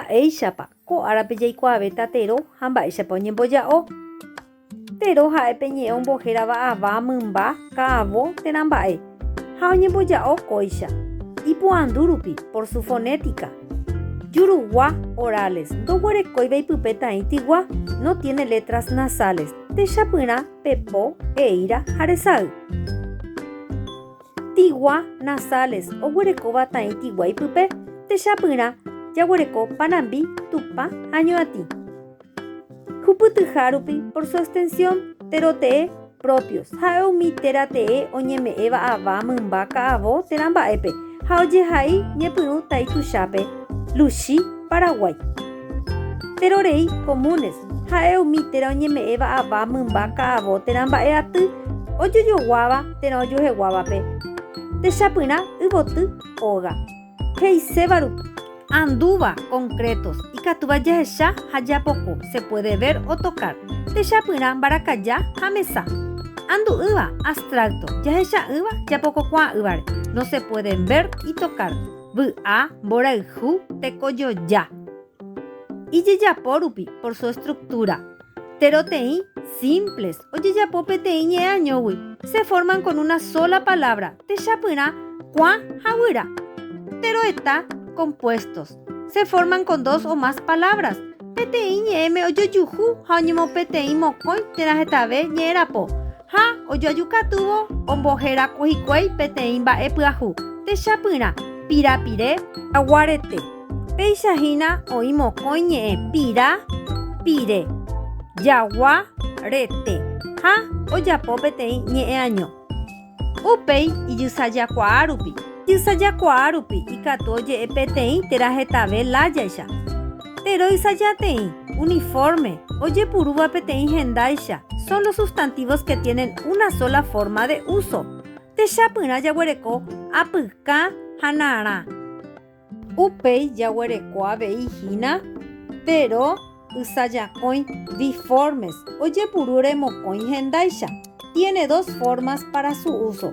Mba'éichapa ko árape jaikuaave tateró ha mba'éichapa oñemboja'o. Tero ha'e pe ñe'ẽ ombohérava ava, mymba, ka'avo térã mba'e, ha oñemboja'o kóicha, ipoandu rupi, por su fonética. Jurugua, orales, ndoguerekóiva ipype taĩ tygua, no tiene letras nasales, techapyrã pe po, eíra ha resay. Tigua Nasales oguerekóva Taĩ Tigua ipype, techapyrã, jaguereko panambi, tupa ha ñuatĩ. Hupytyha rupi, por su extensión, téro tee, propios, ha'e umi téra tee oñeme'ẽva ava, mymba, ka'avo, térã mba'épe, ha ojehai ñepyrũ Taĩ Tuchápe, Luchi, Paraguái. Téro rei, comunes, Ha'e umi térã oñeme'ẽva ava, mymba, ka'avo, térã mba'e aty, ojojoguáva, térã ojueheguávape, techapyrã, yvoty, óga. He'iséva rupi. Andúva, concretos, ikatúva jahecha ha japoko, se puede ver o tocar, techapyrã, mbarakaja ha mesa. Andu'ỹva, abstracto, jahecha'ỹva, japokokuaa'ỹvare, no se pueden ver y tocar, vy'a, mborayhu, tekojoja. Ijejapo rupi, por su estructura. Tero teĩ, simples, ojejapo peteĩ ñe'ẽañógui, se forman con una sola palabra, techapyrã, kuã ha guyra. Tero heta, compuestos, se forman con dos o más palabras, peteĩ ñe'ẽme ojojuhu ha oñemopeteĩ mokõi térã hetave ñe'ẽrapo, Ha ojoaju katúvo omboheraku hikuái peteĩ mba'e pyahu, techapyrã, pirapire, jaguarete, péicha hína oĩ mokõi ñe'ẽ pira, pire, jagua, rete, ha ojapo peteĩ ñe'ẽaño. Upéi ijysajakuaa rupi. Ijysajakuaa rupi ikatu oje'e peteĩ térã hetave lájaicha. Teroicha jateĩ, uniforme, ojepurúva peteĩ hendáicha, son los sustantivos que tienen una sola forma de uso. Techapyrã jaguereko apyka ha narã. Upéi jaguereko avei hína tero ysajakõi, biformes, ojepuru remokõi hendáicha, tiene dos formas para su uso.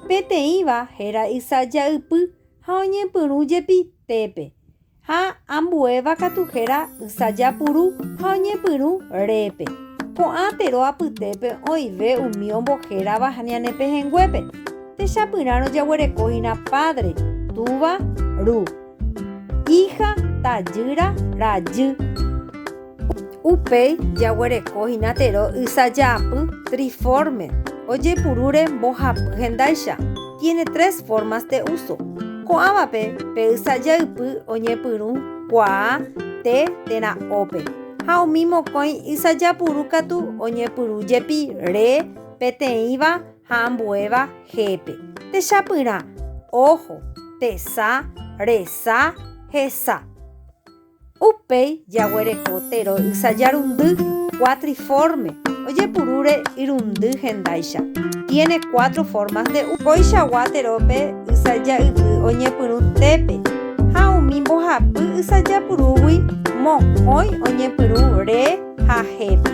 Peteĩva héra ysaja ypy ha oñepyrũ jepi tépe. Ha ambuéva katu héra ysaja puru ha oñepyrũ répe. Ko'ã tero apytépe oĩve umi ombohérava ha ñane pehẽnguépe. Techapyrãrõ jaguerekóhina pádre, túva, ru. Íha, tajýra, rajy. Upéi jaguereko hína tero ysajaapy triforme ojepurúre mbohapy hendáicha, tiene tres formas de uso. Ko'ãvape pe ysajaypy oñepyrũ kuaa te térã ópe, ha umi mokõi ysajapuru katu oñepyrũ jepi re peteĩva ha ambuéva hépe, techapyrã, ojo, tesa, resa, hesa. Upéi jaguereko tero ysajarundy cuatriforme, ojepurúre irundy hendáicha, tiene cuatro formas de uva. Koichagua terópe ysaja'ypy oñepyrũ tépe ha umi mbohapy ysajapurúgui mokõi oñepyrũ re ha hépe.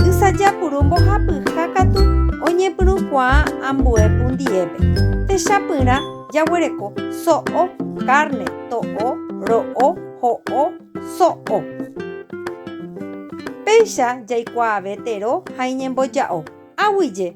Ysajapuru mbohapyha katu oñepyrũkuaa ambue pundiépe, techapyrã. jaguereko so'o, kárne, to'o, ro'o, ho'o, so'o. Péicha jaikuaave tero ha iñemboja'o. Aguyje.